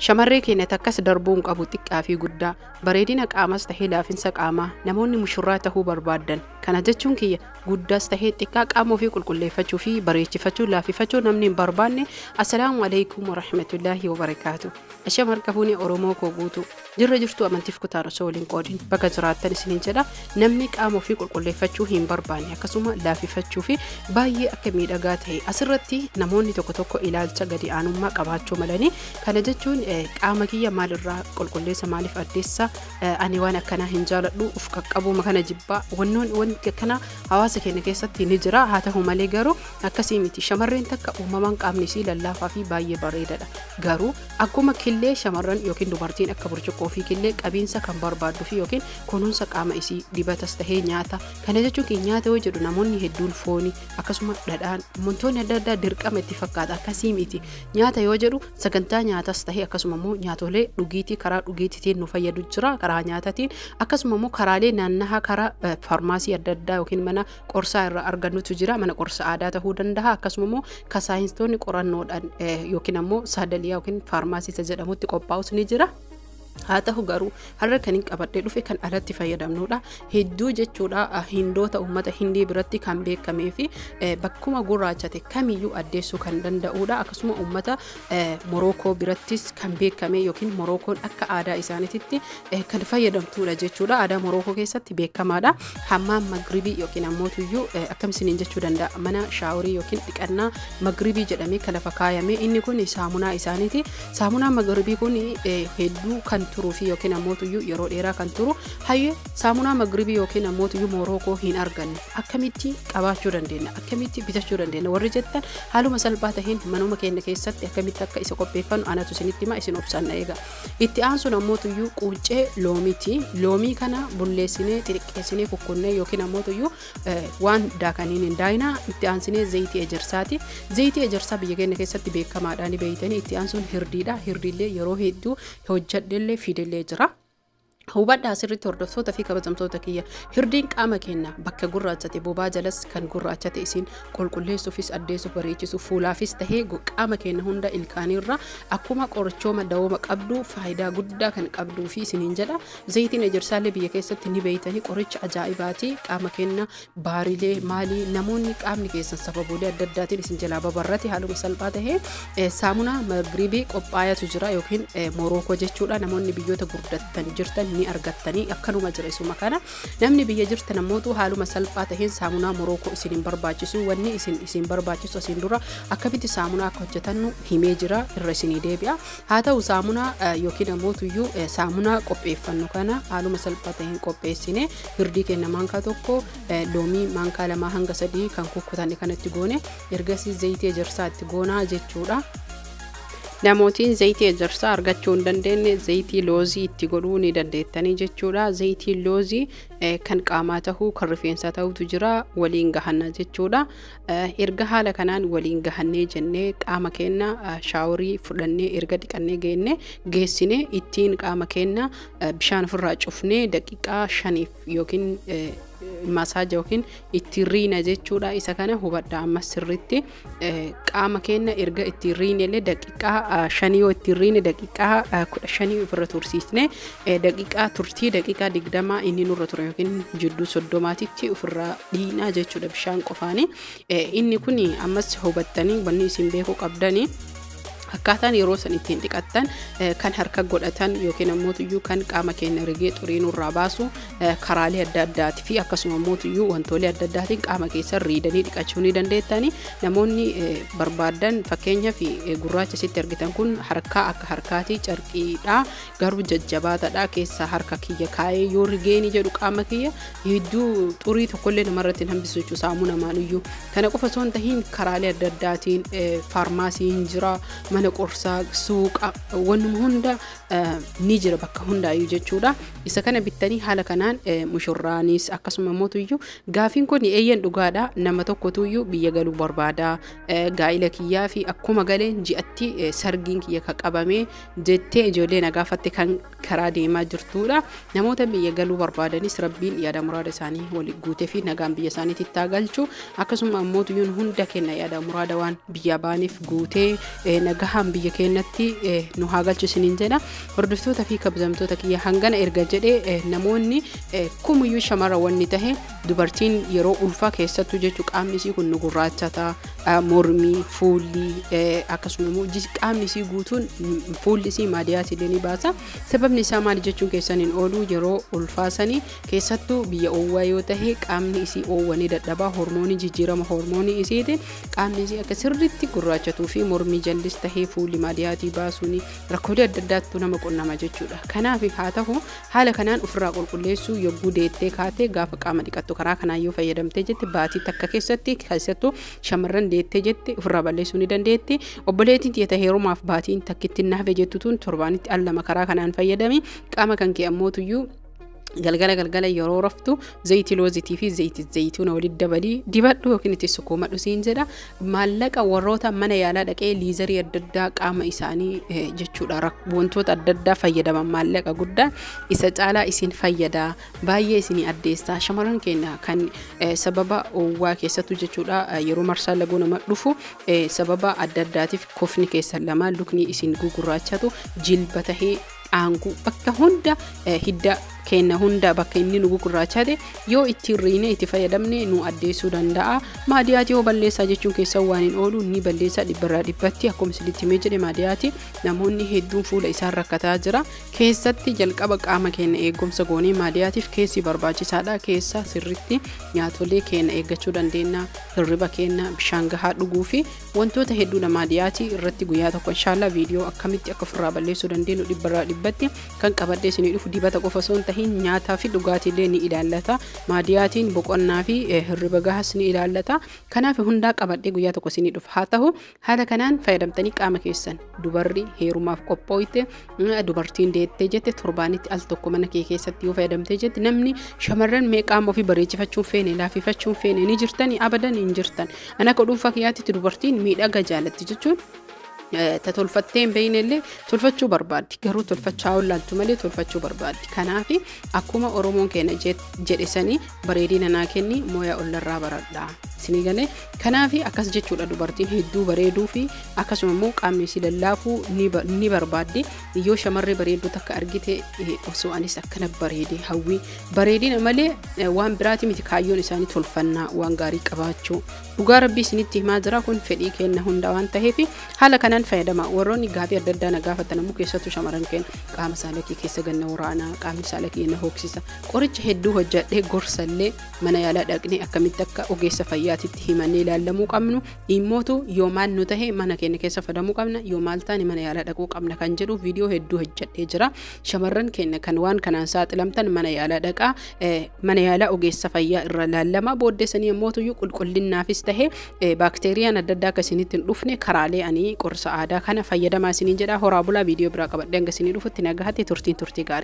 Shamarree keenya takkas darbuu hin qabu xiqqaa fi guddaa bareedina qaamas tahee laafinsa qaamaa namoonni mushurraa tahuu barbaaddan kana jechuun kiyya guddaas tahee xiqqaa qaama ofii qulqulleeffachuu fi bareechifachuu laafifachuu namni hin barbaanne assalaamu alaikum warahmatullaahi wabarakaatu ashamarka fuune oromoo koo guutuu Jirra jirtuu amantiif kutaan osoo waliin qoodin baga jiraattan isiniin jedha namni qaama ofii qulqulleeffachuu hin barbaanne akkasuma laafifachuu fi baay'ee akka miidhagaa ta'e asirratti namoonni tokko tokko ilaalcha gadi aanummaa qabaachuu malanii kana jechuun qaama kiyya maalirraa qulqulleessa maaliif addeessa ani waan akkanaa hin jaaladhu uf qaqqabuuma kana jibbaa wannoon wanti akkanaa hawaasa keenya keessatti ni jira haa ta'u malee garuu akkasii miti shamarreen takka uumamaan qaamni isii lallaafaa fi baay'ee bareedadha garuu Akkuma killee shamarran ykn dubartiin akka burcuqqoo fi killee qabiinsa kan barbaaddu fi ykn kunuunsa qaama isii dibatas tahee nyaata kana jechuun kee nyaata yoo jedhu namoonni hedduun fooni akkasuma dhadhaan wantoonni adda addaa dirqama itti fakkaata akkasii miti nyaata yoo jedhu sagantaa nyaatas tahee akkasuma immoo nyaatolee dhugiitii karaa dhugiitiitiin nu fayyadu jira karaa nyaatatiin akkasuma immoo karaalee naannahaa karaa eh, faarmaasii adda addaa yookiin mana qorsaa irraa argannutu jira mana qorsa aadaa tahuu danda'a akkasuma immoo ka saayinstoonni qorannoodhaan yookiin ammoo saadaliyaa yookiin faarmaasiisa jedhamutti qophaa'us ni jira. haa ta'u garuu har'a kan hin qabadhee dhufe kan alatti fayyadamnudha hedduu jechuudha hindoota uummata hindii biratti kan beekamee fi bakkuma gurraachate kamiyyuu addeessuu kan danda'udha akkasuma uummata Morookoo birattis kan beekame yookiin Morookoon akka aadaa isaaniititti kan fayyadamtuudha jechuudha. Aadaa Morookoo keessatti beekamaadha. Hammaan magribii yookiin ammoo tuyyuu akkam isiniin jechuu danda'a mana shaaworii yookiin dhiqannaa magribii jedhamee kan lafa kaayame inni kun saamunaa isaaniiti. Saamunaa magribii kun hedduu kan turuu fi yookiin ammoo tuyyuu yeroo dheeraa kan turu hayyee Saamunaa Magribii yookiin ammootiyyuu Moorookoo hin arganne akkamitti qabaachuu dandeenya akkamitti bitachuu dandeenya warri jettan haaluma salphaa taheen manuma keenya keessatti akkamitti akka isa qopheeffannu anatu isinitti hima isin obsaan na eega. Itti aansuun ammootiyyuu quuccee loomiiti loomii kana bulleessinee xixiqqeessinee kukkunnee yookiin ammootiyyuu waan daakaniin hin daayinaa itti aansinee zayitii ejersaati zayitii ejersaa biyya keenya keessatti beekamaadhaan beeytanii itti aansuun hirdiidha hirdiillee yeroo hedduu hojjadhellee fidellee jira. Hubadhaa asirratti hordoftoota fi kabajamtoota kiyya hirdiin qaama keenya bakka gurraachate bobaa jalas kan gurraachate isiin qulqulleessuufis addeessuuf bareechisuuf fuulaafis tahee qaama keenya hunda ilkaaniirra akkuma qorichooma dawooma qabdu faayidaa guddaa kan qabduu fi isiniin jedha zayitiin ejersaallee biyya keessatti ni beeytanii qoricha ajaa'ibaati qaama keenya Baarilee maalii namoonni qaamni keessan sababolee adda addaatiin isin jalaa babarrate haaluma salphaa tahee eh, saamunaa magribii qophaayatu jira yookiin eh, morookoo jechuudha namoonni biyyoota gurdattan jirtan ni argattanii akkanuma jira isuma kana namni biyya jirtan ammootu haaluma salphaa taheen saamunaa morookoo isin hin barbaachisu wanni isin isin barbaachisu asiin dura akkamitti saamunaa akka hojjetannu himee jira irra isinii deebi'a Haa ta'u saamunaa yookiin ammoo tuyyuu saamunaa qopheeffannu kana haaluma salphaa ta'een qopheessine hirdii keenya maankaa tokko loomii maankaa lamaa hanga sadii kan kukkutanne kanatti goone ergasii zayitii ejersaa itti goonaa jechuudha. Namootiin zayitii ejersaa argachuu hin dandeenye zayitii loozii itti godhuu ni dandeettanii jechuudha. Zayitiin loozii kan qaamaa ta'uu kan rifeensaa ta'utu jira waliin gahanna jechuudha. Erga haala kanaan waliin gahannee jennee qaama keenna shaaworii fudhannee erga dhiqannee geenne geessinee ittiin qaama keenna bishaan ofirraa cufnee daqiiqaa shaniif yookiin masaaja yookiin ittiin riina jechuudha. Isa kana hubadha amma sirriitti qaama keenna erga ittiin riine illee daqiiqaa shanii yoo ittiin riine daqiiqaa kudha shanii ofirra tursiisne Daqiqaa turtii daqiqaa digdamaa inni nurra ture yookiin jidduu soddomaatitti ofirraa dhiinaa jechuudha bishaan qofaani. Inni kun ammas hubattanii wanni isin beekuu qabdani. Akkaataan yeroo san ittiin dhiqattan kan harka godhatan yookiin ammoo tuyyuu kan qaama keenya rigee xurii nurraa baasu karaalee adda addaati fi akkasuma ammoo tuyyuu wantoolee adda addaatiin qaama keessan riidanii dhiqachuu ni dandeettani. Namoonni barbaadan fakkeenyaaf gurraacha sitti argitan kun harkaa akka harkaati carqiidha. garuu jajjabaataadha keessaa harka kiyya kaa'ee yoo rigeeni jedhu qaama kiyya hedduu xurii tokkollee namarratti hin hambisu jechuudha saamuu namaanuyyuu kana qofa osoo hin tahin karaalee adda addaatiin faarmaasii hin jira mana qorsaa suuqa wannuma hunda ni jira bakka hundaayyuu jechuudha isa kana bittanii haala kanaan mushurraanis akkasuma mootuyyuu gaafiin kun eeyyan dhugaadha nama tokkotuyyuu biyya galuu barbaada gaa'ila kiyyaa fi akkuma galeen ji'atti sargiin kiyya ka qabamee jettee ijoollee na gaafatte kan karaa deemaa jirtuudha. Namoota biyya galuu barbaadanis rabbiin yaada muraada isaanii wal guutee fi nagaan biyya isaaniitti itti haa galchu. Akkasuma ammoo tuyyuun hunda kenna yaada muraada waan biyyaa baaniif guutee eh, nagahaan biyya keenyatti eh, nu haa galchu isiniin jedha. Hordoftoota fi kabajamtoota kiyya hangana erga jedhee eh, namoonni eh, kumuyyuu shamarra wanni tahe Dubartiin yeroo ulfaa keessattuu jechuun qaamni isii kun gurraachata, mormi, fuulli akkasuma immoo qaamni isii guutuun fuulli isii maadiyaas illee ni baasa. Sababni isaa maali jechuun keessan hin oolu yeroo ulfaa sanii keessattuu biyya oowwaa yoo tahe qaamni isii oowwa ni dadhabaa hormoonii jijjiirama hormoonii isiitiin qaamni isii akka sirriitti gurraachatuu fi mormii jallis tahee fuulli maadiyaatii baasuun rakkoolee adda addaattu nama qunnama jechuudha. Kanaaf haa tahu Haala kanaan ufirraa qulqulleessuu yogguu deettee kaate gaafa qaama dhiqattu karaa kanaan yoo fayyadamtee jette baatii takka keessatti keessattuu shamarran deettee jette ufirraa balleessuu ni dandeetti. Obboleettiin tiyya ta heerumaaf baatiin takkitti na hafe jettu tun torbaanitti al lama karaa kanaan fayyadami qaama kan kee ammoo tuyyuu galgala galgala yeroo raftu zayitii loozitii fi zayitii zayituuna walitti dabalii dibadhu yookiin itti sukkuumadhu siin jedha Maallaqa warroota mana yaalaa dhaqee liizarii adda addaa qaama isaanii eh, jechuudha rak- wantoota adda addaa fayyadaman maallaqa guddaa isa caalaa isin fayyada baay'ee isinii addeessaa shamarran keenya kan eh, sababa owwaa keessattuu jechuudha eh, yeroo marsaa laguu nama dhufu eh, sababa adda addaatiif kofni keessan lama lukni isin gugurraachatu jilba tahee dhaangu bakka hunda eh, hidda keenya hunda bakka inni nu gugurraachate yoo ittiin riine itti fayyadamne nu addeessuu danda'a maadiyaati yoo balleessaa jechuun keessa waan hin oolu ni balleessaa dhibbarraa dhibbatti akkuma isinitti himee jedhe maadiyaati namoonni hedduun fuula isaan rakkataa jira keessatti jalqaba qaama keenya eegumsa goonee maadiyaatiif keessi barbaachisaadha keessa sirritti nyaatolee keenya eeggachuu dandeenya hirriba keenya bishaan gahaa dhuguu fi wantoota hedduu namaa dhiyaati irratti guyyaa tokko inshaallaa viidiyoo akkamitti akka ofirraa balleessuu dandeenyu dhibbarraa dhibbatti kan qabadhee isinii dhufu dibata qofa osoo hin tahin nyaataa fi dhugaatiillee ni ilaallata maadiyaatiin boqonnaa fi hirriba gahas ni ilaallata kanaaf hundaa qabadhee guyyaa tokko isinii dhufu haa tahu haala kanaan fayyadamtanii qaama keessan dubarri heerumaaf qophooyte dubartiin deettee jette torbaanitti al tokko mana kee keessatti yoo fayyadamtee jette namni shamarran mee qaama ofii bareechifachuun feene laafifachuun feene ni jirtani abadan hin jirtan an akka dhuunfaa kiyyaatti dubartiin miidhaga jaalatti jechuun ta tolfattee hin beekne illee tolfachuu barbaaddi garuu tolfachaa ollaaltu malee tolfachuu barbaaddi kanaaf akkuma oromoon keenya jedhe sanii bareedina naa kenni mooyaa ollarraa baradha isinii galee Kanaafi akkas jechuudha dubartiin hedduu bareeduu fi akkasuma immoo qaamni isii lallaafuu ni ba- ni barbaaddi yoo shamarree bareedduu takka argite eh, osoo anis akkana bareede hawwii bareedina malee eh, waan biraati miti kaayyoon isaanii tolfannaa waan gaarii qabaachuu dhugaa rabbii isinitti himaa jira kun fedhii kenna hunda waan ta'eef haala kanaan fayyadama warroonni gaafii adda addaa na gaafatan ammoo keessattuu shamarran keenya qaama saalakii keessa ganna waraanaa qaamni saalakii na hooksisa qoricha hedduu hojjadhee gorsallee mana yaalaa dhaqnee akkamitti akka ogeessa fayyaatitti himannee ilaallamuu qabnu dhimmootu yoo maal nu tahe mana keenya keessa fadamuu qabna yoo maal taane mana yaalaa dhaquu qabna kan jedhu viidiyoo hedduu hojjedhee jira shamarran keenya kan waan kanaan saaxilamtan mana yaalaa dhaqaa mana yaalaa ogeessa fayyaa irra ilaallama booddeessanii ammootuyyuu qulqullinaafis tahe baakteeriyaan adda addaa akka isinitti hin dhufne karaalee ani qorsa aadaa kana fayyadamaa isiniin jedha horaa bulaa viidiyoo biraa qabadhee hanga isinii dhufutti nagahatti turtiin turtii gaarii.